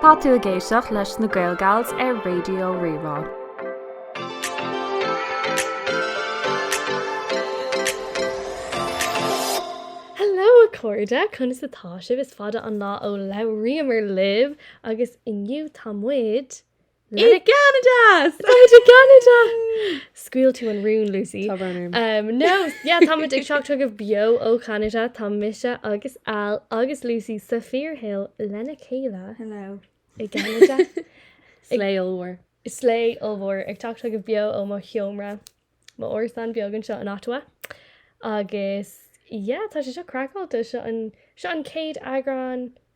Tá tú ag éisteacht leis na GaelGals ar Raidió Rí-Rá. Hello a chairde, conas atá sibh? Is fada an lá ó labhraíomar libh agus inniu tá muid I gCeanada! Tá muid i Canada! Scaoil tú an rún, Lucy. Tá brón orm. Um, no, yeah, tá muid ag teacht chugaibh beo ó Canada, tá mise agus Al agus Lucy sa fíorshaol lena chéile Hello. i gCeanada. Slay ollmhór. Slay ollmhór ag teacht chugaibh beo ó mo sheomra, mo árasán beag anseo in Ottawa. Agus, yeah, tá sé seo craiceáilte, seo an, seo an céad eagrán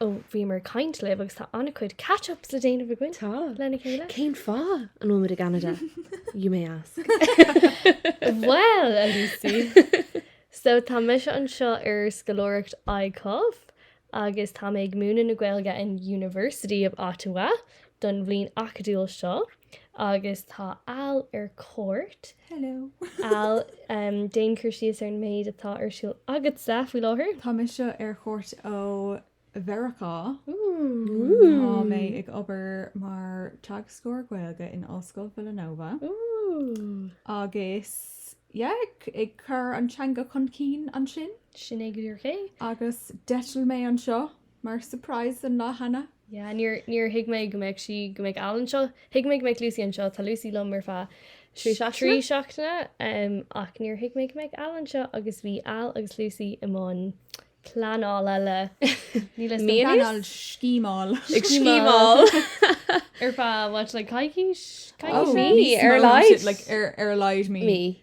Ó, bhíomar ag caint libh agus tá an-chuid catch-ups le déanamh againn. Tá. Lena chéile. Cén fáth an bhfuil muid i gCeanada? You may ask. Bhuel, a Lucy. So, tá mise anseo ar scoláireacht ICUF agus tá mé ag múineadh na Gaeilge in University of Ottawa don bhliain acadúil seo. Agus tá Al ar cuairt. Hello! Al, déan cur síos ar an méid atá ar siúl agatsa faoi láthair. Tá mise ar chuairt ó Mheiriceá. Tá mé ag obair mar teagascóir Gaeilge in Ollscoil Villanova agus yeah, ag cur an teanga chun cinn ansin. Sin é go díreach é. Agus d'eitil mé anseo mar surprise an lá cheana. Yeah, níor, níor thuig mé go mbeadh sí, go mbeadh Al anseo. Thuig mé go mbeadh Lucy anseo, tá Lucy liom ar feadh trí seachtaine, trí seachtaine um, ach níor thuig mé go mbeadh Al anseo agus bhí Al agus Lucy i mbun pleanála. Ní le Mian pleanáil scímáil. Ag scímáil. ar feadh what, like coicís? Coicís? Oh, mí, ar a laghad. Ar, ar a laghad, mí. Mí.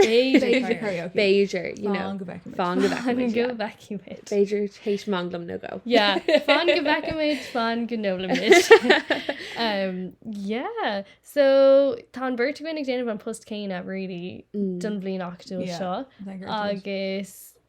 B'fhéidir Fan go bhfeicimid Fan go bhfeicimid B'fhéidir tar éis manglam nó dhó Fan go bhfeicimid Fan go n-ólaimid Yeah So tá an bheirt againn ag déanamh an post céanna really don bhliain acadúil seo agus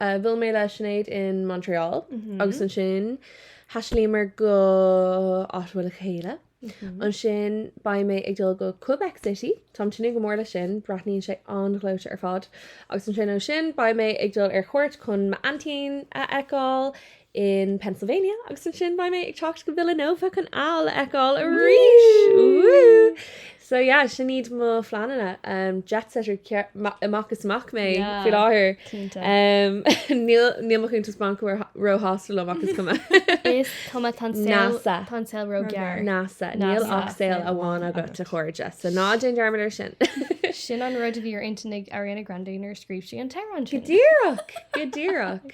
Bhuail mé le Sinéad in Montréal agus ansin thaistealaíomar go Ottawa le chéile. Ansin beidh mé ag dul go Quebec City, táim tnúth go mór leis sin, breathnaíonn sé an-ghleoite ar fad. Agus ansin ó sin beidh mé ag dul ar chuairt chun m'aintín a fheiceáil in Pennsylvania agus ansin beidh mé ag teacht go Villanova chun Al a fheiceáil arís! Woohoo! So yeah, sin iad mo phleananna. Um, jet setter amach is amach mé Yeah. faoi láthair. Cinnte. Um, níl, níl mo chuntas bainc ró-shásta liom ach is cuma. Is cuma, tá an saol- NASA. tá an saol róghearr. NASA, NASA. níl ach saol Saol amháin amháin agat, agat. a chairde. So ná déan dearmad ar sin. Sin an rud a bhí ar intinn ag Ariana Grande nuair a scríobh sí an t-amhrán Go sin. díreach! Go díreach!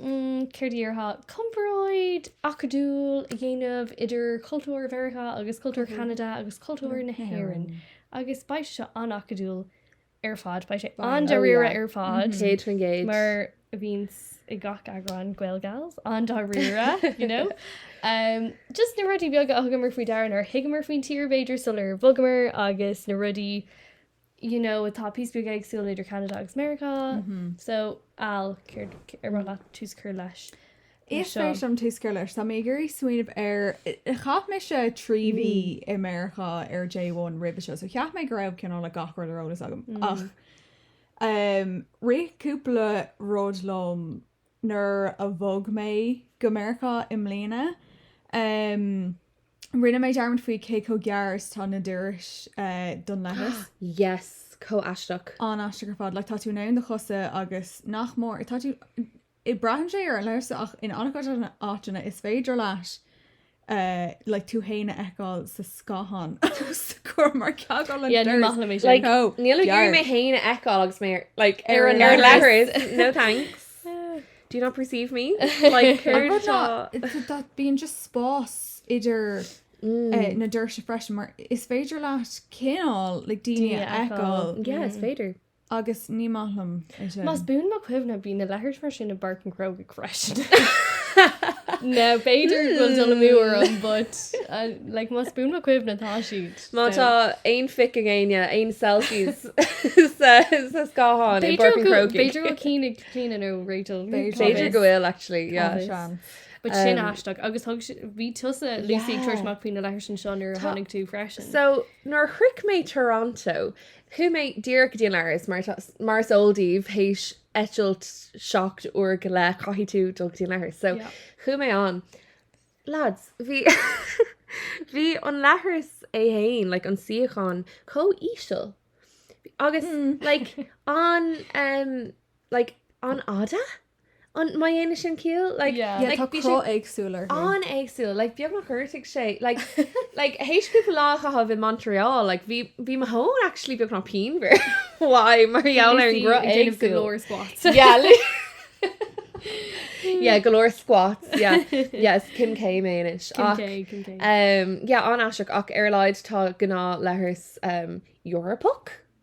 Céard a dhéarfá? Comparáid acadúil a dhéanamh idir cultúr Mheiriceá agus cultúr Cheanada agus cultúr na hÉireann agus beidh sé seo an-acadúil ar fad, beidh sé an-dáiríre ar fad. Céad faoin gcéad. Mar a bhíonns i gach eagrán GaelGals, an-dáiríre, you know? Just na rudaí beaga a thugamar faoi deara, nár thuigeamar faoin tír b'fhéidir sular bhogamar agus na rudaí you know atá píosa beag éagsúil idir Ceanada agus Meiriceá so Al céard ar mhaith leat tús a chur leis seo? Is féidir liom tús a chur leis. Tá mé ag iarraidh smaoineamh ar, chaith mise trí mhí i Meiriceá ar J1 roimhe seo so cheap mé go raibh cineál like gach rud ar eolas agam ach eh rith cúpla rud liom nuair a bhog mé go Meiriceá i mbliana, rinne mé dearmad faoi cé chomh gearr is atá na dorais don leithreas. Yes, chomh aisteach. An-aisteach ar fad. Like, tá tú in ann do chosa agus nach mór, tá tú, braitheann sé ar an leithreas ach in an-chuid áiteanna is féidir leat like tú fhéin a fheiceáil sa scáthán atá os do chomhair mar gheall ar na dorais. Like, oh, níl mé ag iarraidh mé fhéin a fheiceáil agus mé ar, like, ar an leithreas. No thanks. Do not perceive me. Like, céard atá. Bíonn just spás idir na doirse freisin mar is féidir leat cineál, like, daoine a fheiceáil. Yeah, is féidir. Agus ní maith liom é sin. Más buan mo chuimhne, bhí na leithris mar sin i bPáirc an Chrógaigh freisin. Now, b'fhéidir go bhfuil dul amú orm, but, like, más buan mo chuimhne, tá siad. Má tá aon phic ag éinne, aon selfies sa scáthán i bPáirc an Chrógaigh. B'fhéidir go bhfuil ceann ag Clíodhna nó Rachel. B'fhéidir go bhfuil, actually, yeah. Tá seans. But sin aisteach. Agus thug si-, bhí tusa, Lucy, ag tabhairt amach faoi na leithris anseo nuair a tháinig tú freisin. So, nuair a shroich mé Toronto, Chuaigh mé díreach go dtí an leithreas, mar is eol daoibh, théis eitilt seacht uair go leith, caithfidh tú dul go dtí an leithreas. So chuaigh mé ann. Lads, bhí bhí an leithreas é fhéin, like an suíochán, chomh íseal. Agus like an, like an-fhada? An má dhéanann sin ciall? Like, Yeah. Yeah, like, tá cruth éagsúil orthu. Bhí sé an-éagsúil, like, beagnach ghortaigh sé, like, like, théis cúpla lá a chaitheamh i Montreal, like, bhí, bhí mo thóin actually beagnach pianmhar uaidh mar gheall ar an gcruth éagsúil. Ag déanamh go leor squats. Yeah, li- yeah, go leor squats, yeah, yeah, is Kim K mé anois. Kim Ach, K, Kim K. um, yeah, an-aisteach ach ar a laghad tá gnáth leithreas, um, Eorpach?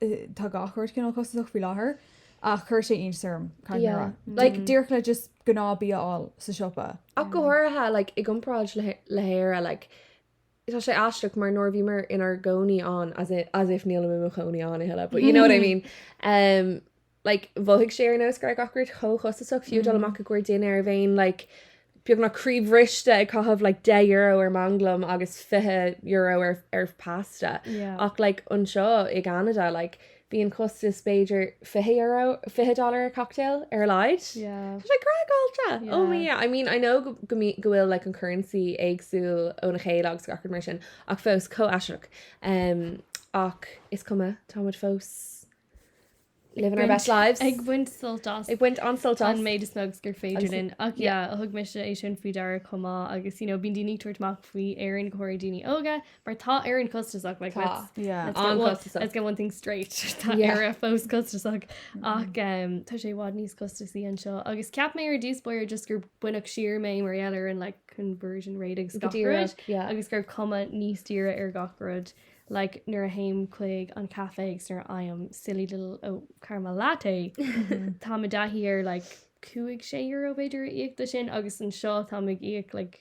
tá gach rud cineál costasach faoi láthair ach chuir sé iontas orm cad yeah. rá. Like, díreach le just gnáth bia a fháil sa siopa. Ach go háirithe, like, i gcomparáid le, le hÉire, like, tá sé aisteach mar nuair a bhíomar inár gcónaí ann, as, as if níl mé mo chónaí ann a thuilleadh, but you know what I mean. Um, like, mhothaigh sé ar nós go raibh gach rud chomh costasach fiú ag dul amach i gcomhair dinnéar bhínn, like, beagnach croíbhriste ag caitheamh, like, €10 ar manglam agus €20 ar, ar pasta. Yeah. Ach, like, anseo i gCeanada, like, bíonn costas b'fhéidir €20, $20 ar cocktail, ar a laghad. Yeah. Tá sé craiceáilte! Oh Yeah. my yeah. I mean, I know go, go, mbí- go bhfuil, like, an currency éagsúil óna chéile agus gach rud mar sin, ach fós, chomh aisteach. Em, ach is cuma, táimid fós living our best lives. Ag baint sult as. Ag baint an sult as. An méid is mó agus gur féidir linn. Ach yeah, yeah. thug mise é sin faoi deara chomh maith agus you know, bíonn daoine ag tabhairt amach faoi Éirinn go háirithe daoine óga mar tá Éirinn costasach like, tá. Let's, yeah. let's, get one, let's get one thing straight Tá yeah. Éire fós costasach mm. ach um, tá sé i bhfad níos costasaí anseo agus cheap mé ar dtús báire just gur baineadh siar mé mar gheall ar an like, conversion rate agus yeah. agus go raibh cuma níos daoire ar gach rud. like nuair a théim chuig an caifé agus nuair a fhaighim silly little oh, caramel latte tá mé i dtaithí ar like cúig sé euro b'fhéidir a íoc do sin agus anseo tá mé ag íoc like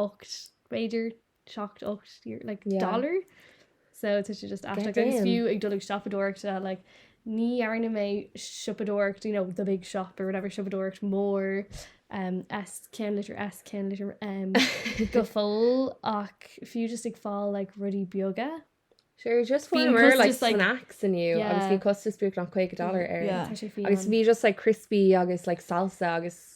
8 b'fhéidir 7 8 like yeah. dollar so tá sé just as like, agus fiú ag dul ag siopadóireachta like Ní dhearna mé siopadóireacht, you know, the big shop or whatever, siopadóireacht mór, um, S, ceannlitir S, ceannlitir M, go fóill, ach fiú just ag fáil, like, rudaí beaga. Sure, just fuair muid like, just, like snacks inniu yeah. agus bhí costas beagnach 50 dollar air yeah. agus bhí just like criospaí agus like salsa agus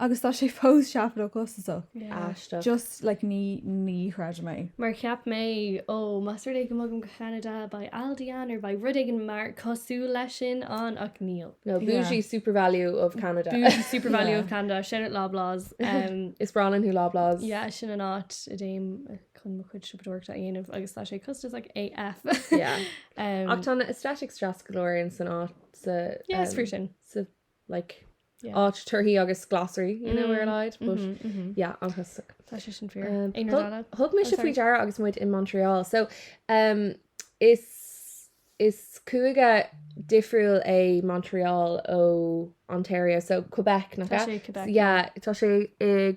Agus tá sé fós seafóideach costasach. Aisteach. Just like ní, ní chreidim é. Mar cheap mé, ó, más rud é go mbogaim go Ceanada, beidh Aldi ann or beidh rud éigin mar cosúil leis sin ann ach níl. No, bougie super value of Canada. Bougie super value of Canada, shout out Loblaws. Is breá linn thú Loblaws. Yeah, sin an áit a dtéim chun mo chuid siopadóireachta a dhéanamh agus tá sé costasach AF. Yeah. Ach tá na aesthetics deas go leor ann san áit sa, yeah, sa, like yeah áit torthaí agus glasraí you know ar a laghad but yeah an-chostasach tá sé sin fíor thug mise faoi deara agus muid in Montreal so um is is cúige difriúil é Montreal ó Ontario so Quebec nach ea tá sé i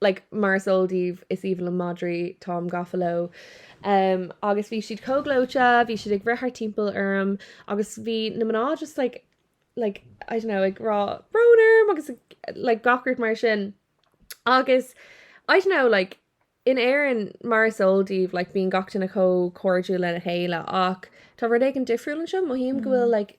like, mar is eol daoibh, is aoibhinn liom madraí, táim gafa leo. em, agus bhí siad chomh gleoite, bhí siad ag rith thart timpeall orm, agus bhí na mná just like, like, I don't know, ag rá brón orm agus ag, like, gach rud mar sin. Agus, I don't know, like, in Éirinn, mar is eol daoibh, like, bíonn gach duine chomh cairdiúil lena chéile ach tá rud éigin difriúil anseo, mothaím go bhfuil, like,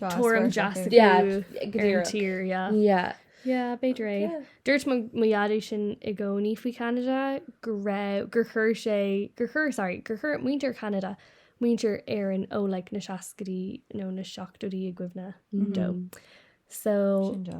tuairim deas acu ar an tír. B'fhéidir é. Dúirt mo dhaid sin i gcónaí faoi Cheanada go raibh gur chuir sé gur chuir sorry gur chuir muintir Cheanada muintir Éireann ó like na seascaidí nó na seachtóidí i gcuimhne dó. So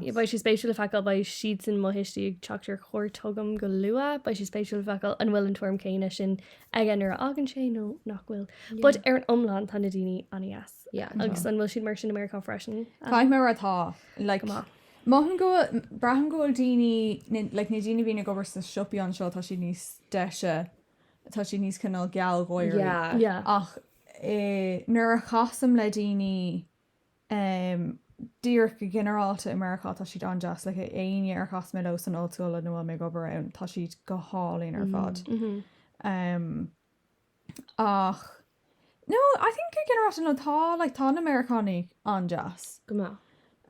yeah beidh sé spéisiúil le feiceáil beidh siadsan mo thuistí ag teacht ar cuairt chugam go luath beidh sé spéisiúil le feiceáil an bhfuil an tuairim chéanna sin aige nuair a fhágann sé nó nach bhfuil. But ar an iomlán tá na daoine an-deas. agus an bhfuil siad mar sin i Meiriceá freisin? Caithfidh mé a rá tá. Go maith. Mothaím go bhfuil, braithim go bhfuil daoine, like na daoine a bhíonn ag obair sna siopaí anseo tá siad níos deise, tá siad níos cineál gealgháirí. Yeah. Ach nuair a chasaim le daoine ehm díreach go ginearálta i Meiriceá tá siad an-deas, like éinne ar chas mé leo san ollscoil nó a bhfuil mé ag obair ann tá siad go hálainn ar fad. Uhm uhm. Ach no, I think go ginearálta no tá like tá na Meiriceánaigh an-deas. Go maith.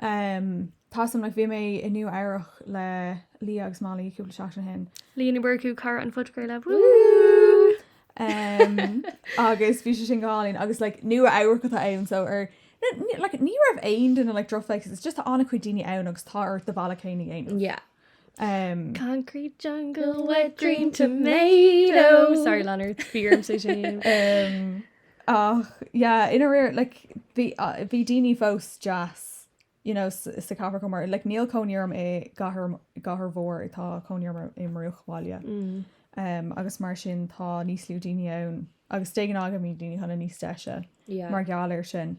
Umm tá so um like bhí mé i Nua Eabhrach le Leah agus Molly cúpla seachtain ó shin. Leah Ní Mhurchú, cara an phodchraolta. Woo! Umm agus bhí sé sin go hálainn agus like Nua Eabhrach atá ann so ar like ní raibh aon duine like drochbhéasach, it's just tá an-chuid daoine ann agus tá ort do bhealach féin a dhéanamh. Yeah. Um, Concrete jungle, wet dream tomato. Sorry, Leonard, fear é sin. um, ach, yeah, i ndáiríre, like, bhí uh, bhí daoine fós deas, you know, s- sa cathair chomh mar, like, níl cónaí orm i gcathair, m- gcathair mhór, i- tá cónaí orm i- i mbruachbhaile. Mm. Um, agus mar sin tá níos lú daoine ann, agus tá seans go mbíonn daoine cineál níos deise Yeah. mar gheall air sin.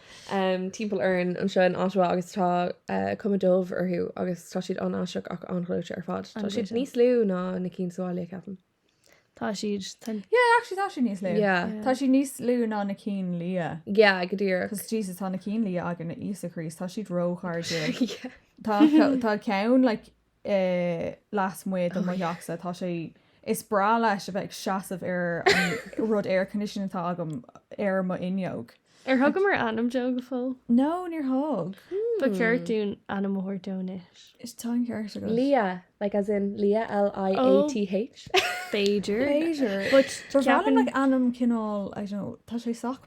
timpeall orainn anseo in Ottawa agus tá cuma dubh orthu agus tá siad an-aisteach ach an-ghleoite ar fad. Tá siad níos lú ná na cinn sa bhaile, ceapaim. Tá siad, tá. Yeah, actually tá siad níos lú. Yeah. Yeah. Tá siad níos lú ná na cinn liatha. Yeah, go díreach. Cos Jesus, tá na cinn liatha againne, Íosa Críost, tá siad róchairdiúil. Yeah. Tá, tá ceann, like, lasmuigh de mo theachsa, tá sé is breá leis a bheith ag seasamh ar an rud air conditioning atá agam ar mo fhuinneog. Ar thugamar ainm dó go fóill? No, níor thug. Ba cheart dúinn ainm a thabhairt dó anois. Is tá an ceart agat. Leah, like as in Liath, L-I-A-T-H. B'fhéidir. B'fhéidir. But ceapaim. B'fhearr like ainm cineál, I don't know, tá sé sách.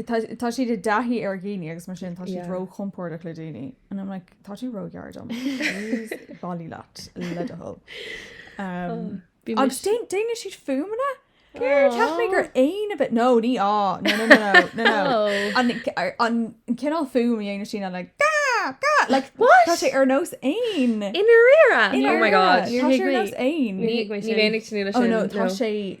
Tá siad i dtaithí ar dhaoine agus mar sin tá siad ró-chompordach le daoine and I'm like tá tú róghar dom. Bailigh leat le do thoil. Agus déanann siad fuaimeanna? Cheap mé gur éan a bhí ann nó nó nó an cineál fuaim a dhéanann siad like Tá sé ar nós éan i ndáiríre? Oh my God. Tá sé ar nós éan. Ní raibh mé ag tnúth leis sin. Tá sé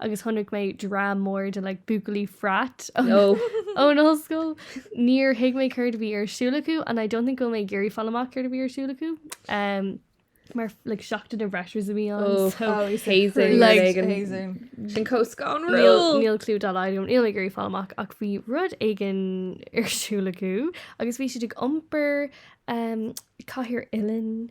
agus chonaic mé dream mór de like buachaillí frat ón ollscoil. Níor thuig mé céard a bhí ar siúl acu and I don't think go bhfuil mé ag iarraidh fáil amach céard a bhí ar siúl acu. Um, mar like seachtain na bhfreshers a bhí ann. Oh, so, Oh, he's Hazing, crazy. like, Hazing. hazing. Sin cóscanrúil. Níl níl clú dá laghad agam, níl mé ag iarraidh fáil amach ach bhí rud éigin ar siúl acu agus bhí siad ag iompar um, cathaoir uilleann.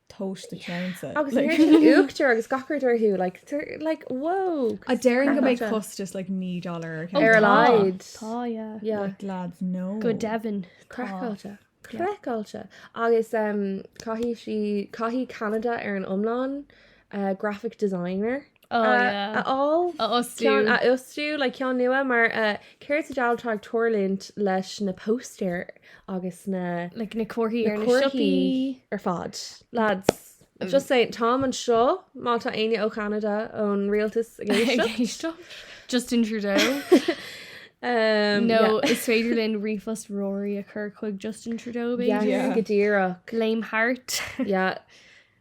toast do cheannsa. Agus uachtar agus gach rud orthu like they're like whoa. A déarfainn go mbeidh costasach like $9 ar ceann. Ar a laghad. Tá yeah. Yeah. Like lads no. Go deimhin. Craiceáilte. Craiceáilte. Agus caithfidh sí, caithfidh Canada ar an iomlán graphic designer. a fháil, a fhostú, a fhostú le ceann nua mar céard sa diabhal atá ag tuirlint leis na póstaeir agus na le na comharthaí ar na siopaí ar fad. Lads, just saying, táim anseo má tá éinne ó Cheanada ón rialtas ag éisteacht. Justin Trudeau. nó is féidir linn ríomhphost Rory a chur chuig Justin Trudeau go díreach. Blame Hart.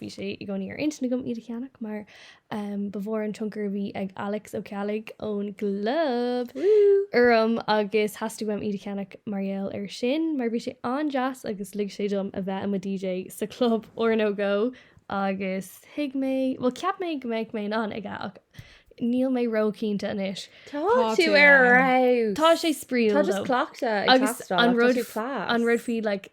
Bhí sé i gcónaí ar intinn agam iad a cheannach mar ba mhór an tionchar a bhí ag Alex Ó Cheallaigh ón gClub orm agus theastaigh uaim iad a cheannach mar gheall air sin mar bhí sé an-deas agus lig sé dom a bheith i mo DJ sa chlub ar ndóigh agus thuig mé, bhuel cheap mé go mbeadh mé in ann aige ach níl mé ró-chinnte anois. Tá tú ar fheabhas! Tá sé spraíúil though. Tá just cleachtadh ag teastáil, tá tú class. An rud faoi like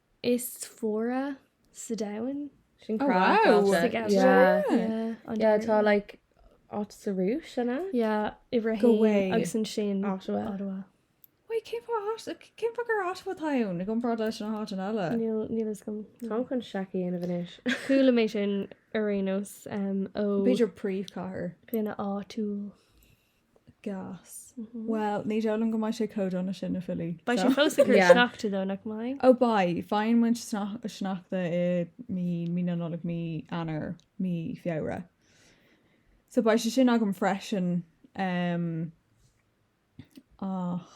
is fuaire sa domhan. Sin craiceáilte. Tá like áit sa Rúis sin a Yeah, haon i ndáiríre agus ansin Ottawa. Ottawa. Wait, cén fáth cén fáth gur Ottawa atá ann i gcomparáid leis na háiteanna eile? Níl níl fhios agam. Táim chun seic a dhéanamh anois. Chuala mé sin aréir ar aon nós ó... B'fhéidir príomhchathair. Dhuine áitiúil. gas. Bhuel, ní dóigh liom go mbeidh sé chomh dona sin, na filí. Beidh sé fós ag cur Yeah. sneachta though, nach mbeidh? Ó beidh, faigheann muid snach- sneachta i mí, mí na Nollag, mí Eanáir, mí Feabhra. So beidh sé sin agam freisin, em, ach.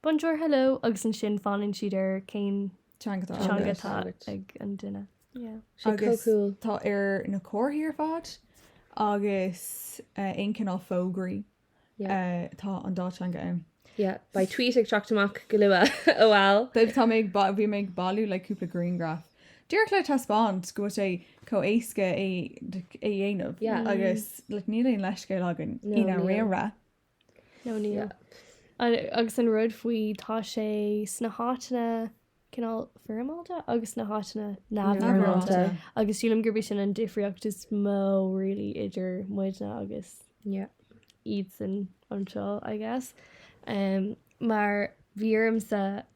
bonjour hello agus ansin fanann siad ar cén teanga atá agat. teanga atá agat. ag an duine. Yeah. Tá sé Agus chomh cool. tá ar na comharthaí ar fad agus eh, aon cineál fógraí Yeah. eh, tá an dá theanga ann. Yeah, beidh tweet ag teacht amach go luath a mholaim daoibh. Tá mé ag ba- bhí mé ag bailiú le cúpla grianghraf. Díreach le taispeáint go bhfuil sé chomh éasca é d- é dhéanamh Yeah. agus like, níl aon leithscéal againn No, ina níl. raon ra. nó níl. Agus an rud faoi tá sé sna háiteanna cineál foirmeálta agus na háiteanna neamhfhoirmeálta agus sílim gurb sin an difriocht is mó really idir muidne agus iadsan anseo I guess mar bhí ormsa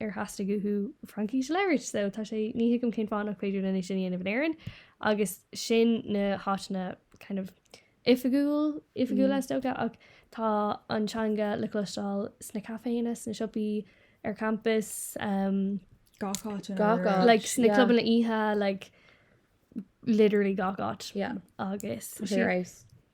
ar theastaigh uathu Fraincis a labhairt, so tá sé, ní thuigim cén fáth nach féidir linn é sin a dhéanamh in Éirinn, agus sin na háiteanna kind of oifigiúil, oifigiúil is dócha, ach tá an teanga le cloisteáil sna caiféanna, sna siopaí, ar campas, um, Gach áit in Gach Éirinn. áit. like sna Yeah. clubanna oíche, like literally gach áit, Yeah. agus Tá sé ar aos.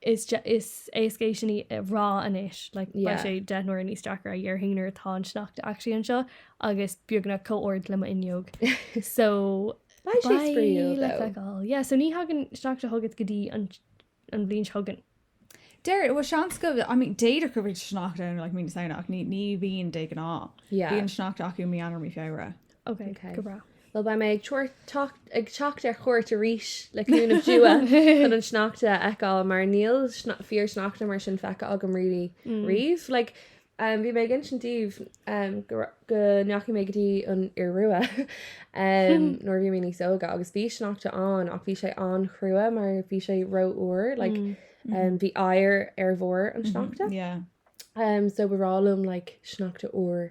Is is éasca é sin a rá anois, like, beidh sé deich n-uaire níos deacra a déarfainn nuair atá an sneachta actually anseo agus beagnach chomh hard le m'fhuinneog. So, Beidh sé spraíúil, le though. feiceáil. Yeah, so ní thagann sneachta chugat go dtí an an bhliain seo chugainn. Deir, bhuel, seans go, I mean, d'fhéadfadh go mbeadh sneachta ann, like, mí na Samhna ach ní ní bhíonn de ghnáth. Yeah. Bíonn sneachta acu mí Eanáir, mí Feabhra. Ok, go breá. Bhuel beidh mé ag teacht ar chuairt arís le cúnamh Dé chun an sneachta a fheiceáil mar níl fíor sneachta mar sin feicthe agam really mm. riamh. Like, um, bhí mé ag insint daoibh um, go, go ndeachaigh mé go dtí an Iorua um, nuair a bhí mé níos óige agus bhí sneachta ann ach bhí sé an-chrua mar bhí sé rófhuar like, mm. um, mm-hmm. bhí oighear ar bharr an mm-hmm. sneachta. Mm -hmm. yeah. um, so ba bhreá liom like, sneachta úr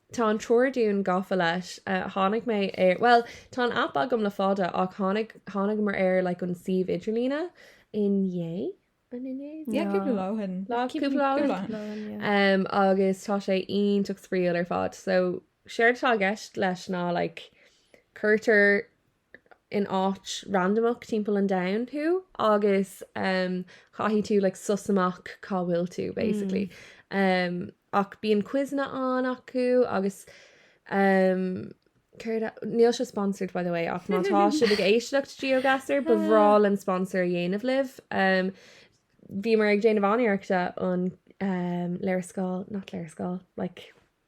Tá an triúr againn gafa leis. Tháinig mé ar, bhuel, tá an aip agam le fada ach tháinig, tháinigamar ar like an suíomh idirlíne inné, an inné? Yeah, cúpla lá ó shin. Lá, cúpla lá ó shin. Cúpla lá ó shin, yeah. Em, agus tá sé iontach spraíúil ar fad. So, séard atá i gceist leis ná like cuirtear in áit randamach timpeall an domhain thú agus caithfidh tú like suss amach cá bhfuil tú basically. Um ach bíonn quizeanna ann acu agus um céard e- níl sé sponsored by the way ach má tá sibh ag éisteacht GeoGuessr ba bhreá linn sponsor a dhéanamh libh. Um bhíomar ag déanamh an-iarrachta an um léarscáil, not léarscáil, like.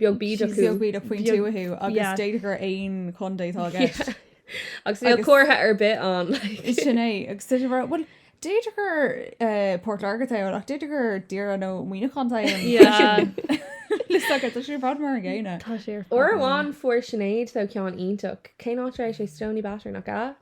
beag bídeach. Beag bídeach faoin tuath agus d'fhéadfadh gur aon chontae atá i gceist. Agus níl comhartha ar bith ann. Is sin é. Agus d'fhéadfadh gur, bhuel, d'fhéadfadh gur Port Láirge atá ann ach d'fhéadfadh gur Doire nó Muineachán atá ann. Níl a fhios agat, tá sé ar fad mar an gcéanna. Tá sé ar fad mar an gcéanna. Uair amháin fuair Sinéad sea ceann iontach. Cén áit a raibh sé? Stoneybatter, nach ea?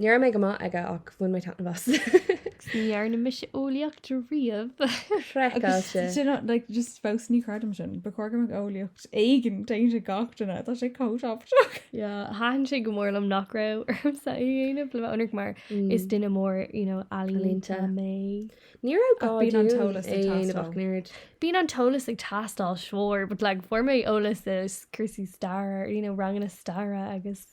Ní raibh mé go maith aige ach bhain mé taitneamh as. Ní dhearna mise eolaíocht riamh. Sin craiceáilte. Do you know, like, just fós ní chreidim sin. Ba chóir go mbeadh eolaíocht éigin déanta ag gach duine. Tá sé chomh tábhachtach. Yeah, thaitin sé go mór liom nach raibh ormsa é a dhéanamh le bheith ionraic mar is duine mór, you know, ealaíonta mé. Ní raibh gá bíonn an dúinn t-eolas ag é a dhéanamh teastáil. ach nerd. Bíonn an t-eolas ag teastáil, sure, but like fuair mé eolas as cúrsaí staire, you know, ranganna staire agus.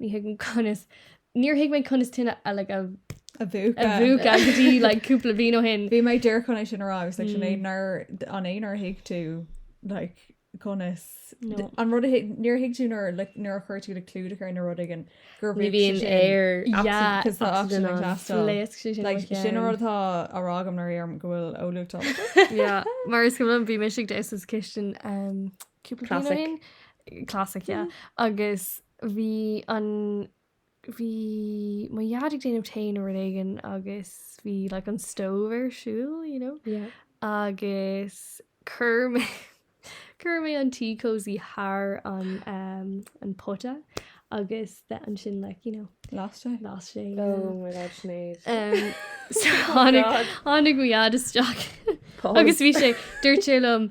Ní thuigim conas. Níor thuig mé conas tine a like a a mhúchadh. a mhúchadh go dtí like cúpla bliain ó shin. Bhí mé díreach chun é sin a rá agus like sin é mm. nar an é nár thuig tú like conas no. an rud níor thuig tú nuair like nuair a chuireann tú like clúdach ar an rud éigin gur bhí bhíon air sin an rud atá á rá agam nar ar go bhfuil eolaíocht. Mar is go bhí mise istigh sa chistin um, cúpla classic yeah. Mm. agus bhí an, bhí mo dheaid ag déanamh tae nó rud éigin agus bhí like an stove ar siúl, you know? Yeah. Agus chuir mé chuir mé an tea cosy thar an um, an pota agus ansin like you know, Las sé. las sé. Oh my god, Sinéad. Um, so, Oh, tháinig God. tháinig mo dheaid isteach. Pause. Agus bhí sé dúirt sé liom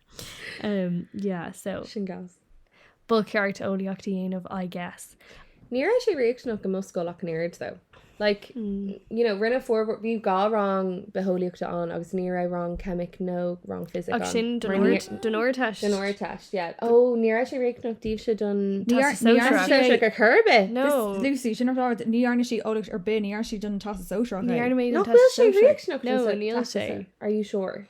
Um, yeah, so. Sin gas. Ba cheart eolaíocht a dhéanamh, I guess. Ní raibh sé riachtanach i mo scoil ach an oiread though. Like, mm. you know, rinne formhór bhí dhá rang bitheolaíochta ann agus ní raibh rang ceimic nó rang fisic ann. sin don Ardteist. Don Ardteist, yeah. Ó, ní raibh sé riachtanach daoibhse don ar chor ar bith. No. Lucy sin like ní dhearna sí eolaíocht ar bith ní dhearna sí don Teastas Sóisearach. Ní dhearna mé sé riachtanach no níl sé. Are you sure?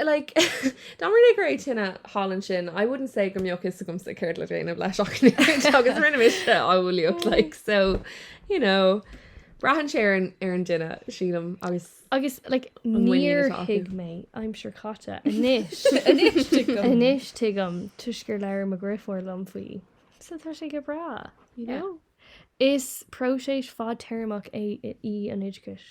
Like, dá mba rud é go raibh tine thall ansin, I wouldn't say go mbeadh a fhios agamsa céard le déanamh leis ach anois agus rinne mise eolaíocht, like, so, you know, braitheann sé ar an, ar an duine, sílim, agus. Agus, like, níor thuig mé aimsir chaite anois. Anois tuigim. Anois tuigim, toisc gur labhair mo dheirfiúr liom faoi. So tá sé go breá, you know? Yeah. Is próiseas fadtéarmach é í an oideachas.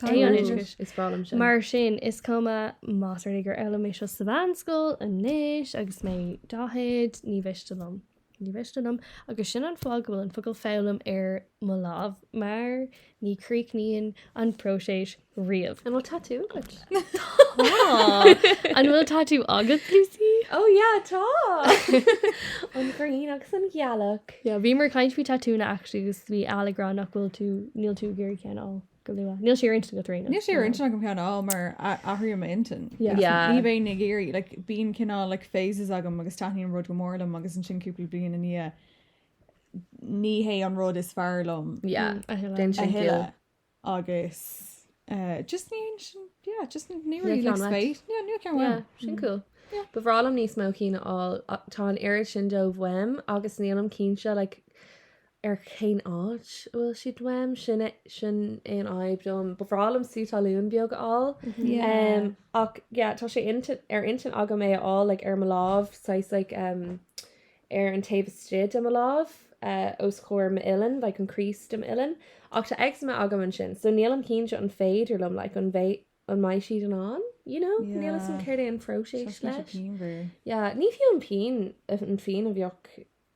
Tá an oideachas is breá liom sin. Mar sin, is cuma más rud é gur fhoghlaim mé seo sa mheánscoil anois agus mé daichead, ní mhiste liom. Ní mhiste liom. Agus sin an fáth go bhfuil an focal 'foghlaim' ar mo lámh, mar ní críochnaíonn an próiseas riamh. An bhfuil tatú agat? Tá! An bhfuil tatú agat, Lucy? Ó, yeah, tá! An ghrian agus an ghealach. Yeah, bhíomar ag caint faoi tatúanna, actually, agus bhí Ella ag rá nach bhfuil tú, níl tú ag iarraidh ceann a fháil. go luath. Níl sé ar intinn ag Tríona. Níl sé ar intinn agam ceann a fháil mar athraíonn mo intinn. Ní bhéinn ag iarraidh, like, bíonn cineál, like, phases agam agus taitníonn rud go mór liom agus ansin cúpla bliain i ndiaidh ní hé an rud is fearr liom a thuilleadh agus eh, just ní sin, yeah, just níl really like spéis. Yeah, níl ceann uaim. Sin cool. Ba bhreá liom níos mó cinn a fháil. Tá an oiread sin dóibh uaim agus nílim cinnte, like, ar cén áit a bhfuil siad uaim, sin sin é an fhadhb dom. Ba bhreá liom sú talún beag a fháil. Yeah. Um, ach, yeah, tá sé intin, ar intinn agam é a fháil, like, ar mo lámh, saghas, like, um, ar an taobh istigh de mo lámh, uh, os chomhair m'uillinn, like, an crease de m'uillinn. Ach tá eczema agam ansin, so nílim cinnte an féidir liom, like, an bhé, an mbeidh siad in ann, you know? Yeah. Níl 'fhios a'm céard é an phróiseas Seachas leis. pian mhór. Yeah, ní fiú an pian, an phian a bheadh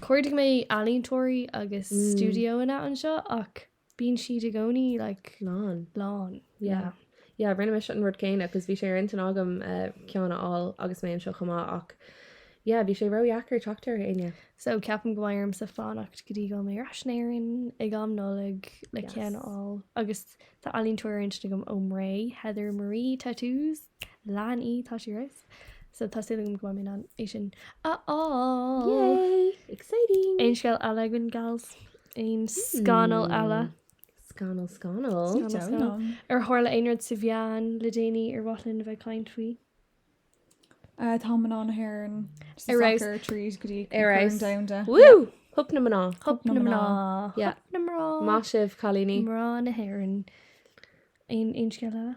Chuardaigh mé ealaíontóirí agus stiúideoanna anseo ach bíonn siad i gcónaí like lán. lán. Yeah. Yeah, rinne mise an rud céanna agus bhí sé ar intinn agam ceann a fháil agus mé anseo chomh maith ach yeah, bhí sé ródheacair teacht ar éinne. So ceapaim go mbeidh ormsa fanacht go dtí go bhfuil mé ar ais in Éirinn ag am Nollag le ceann a fháil. Agus tá ealaíontóir ar intinn agam ón mBré, Heather Marie Tattoos, lean í, tá sí riamh. So tá súil agam go mbeidh mé in ann é sin a fháil Exciting! Aon scéal eile againn gals aon scannal eile Scannal scannal. Scannal, scannal. ar tharla aon rud sa mheán le déanaí ar mhaith linn a bheith ag caint faoi? Uh, tá mná na hÉireann sa Ar aos. soccer tríd go dtí Ar Corn aos. Domhanda. Wú! Hup na mná. Hup na mná. Yeah. Hup na mná. Maith sibh cailíní. Mná na hÉireann. Aon aon scéal eile?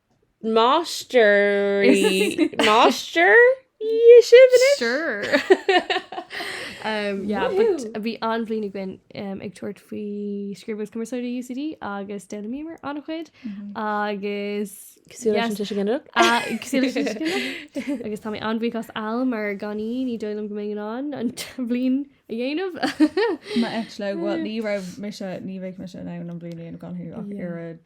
Máistrí máistrí sibh anois? Sure. um, yeah, Woohoo. but a bhí an-bhliain againn um, ag tabhairt faoi Scríobh agus Cumarsáid i UCD agus d'fhoghlaimíomar an-chuid agus Cosúil leis an Yes. tuiseal ginideach? Ah, cosúil leis an tuiseal ginideach. agus tá mé an-bhuíoch as Al mar gan í ní dóigh liom go mbeinn in ann an bhliain a dhéanamh. Má eit le bhfuil ní raibh mise ní bheadh mise in ann an bliain a dhéanamh gan thú ach Yeah. oiread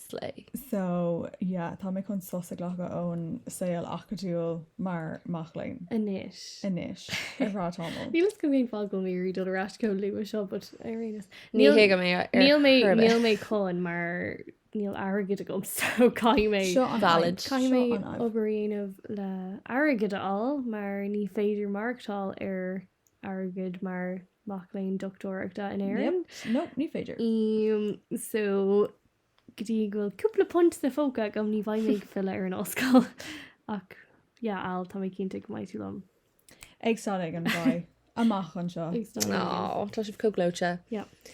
Slay. So, yeah, tá mé chun sos a ghlacadh ón saol acadúil mar mac léinn. Anois. Anois. Ar feadh tamaill. Níl fhios agam cén fáth go bhfuil mé ag iarraidh dul ar ais chomh luath seo, but ar aon nós. Ní hé go mbeidh ar chor ar bith. Níl mé chun mar níl airgead agam so caithfidh mé. Seo an fhadhb. Valid. Caithfidh mé obair a dhéanamh le airgead a fháil mar ní féidir maireachtáil ar airgead mar mac léinn dochtúireachta in Éirinn. Yep. No, ní féidir. Umm, so, go dtí go bhfuil cúpla punt sa phóca agam ní bheidh mé ag filleadh ar an ollscoil. Ach, yeah, Al, tá mé cinnte go mbeidh tú liom. Ag staid éigin beidh amach anseo. Ag staid éigin beidh. Aww, tá sibh chomh gleoite. Yep.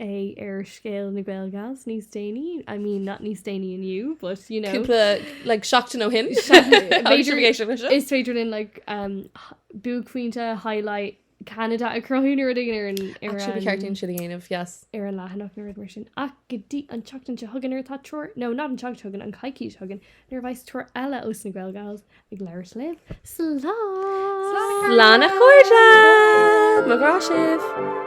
é ar scéal na Gaelgals níos déanaí, I mean, not níos déanaí inniu, but you know. Cúpla, like, seachtain ó shin. Is féidir linn, like, um, buaicphointe, highlight, Canada a cruthú nó rud éigin ar an... Actually, ba cheart dúinn sin a dhéanamh, yes. Ar an leathanach nó rud mar sin. Ach go dtí an tseachtain seo chugainn nuair atá triúr, no, not an tseachtain seo chugainn, an coicís seo chugainn, nuair a bheas triúr eile ós na Gaelgals ag labhairt libh. Slán! Slán a chairde! Mo ghrá sibh!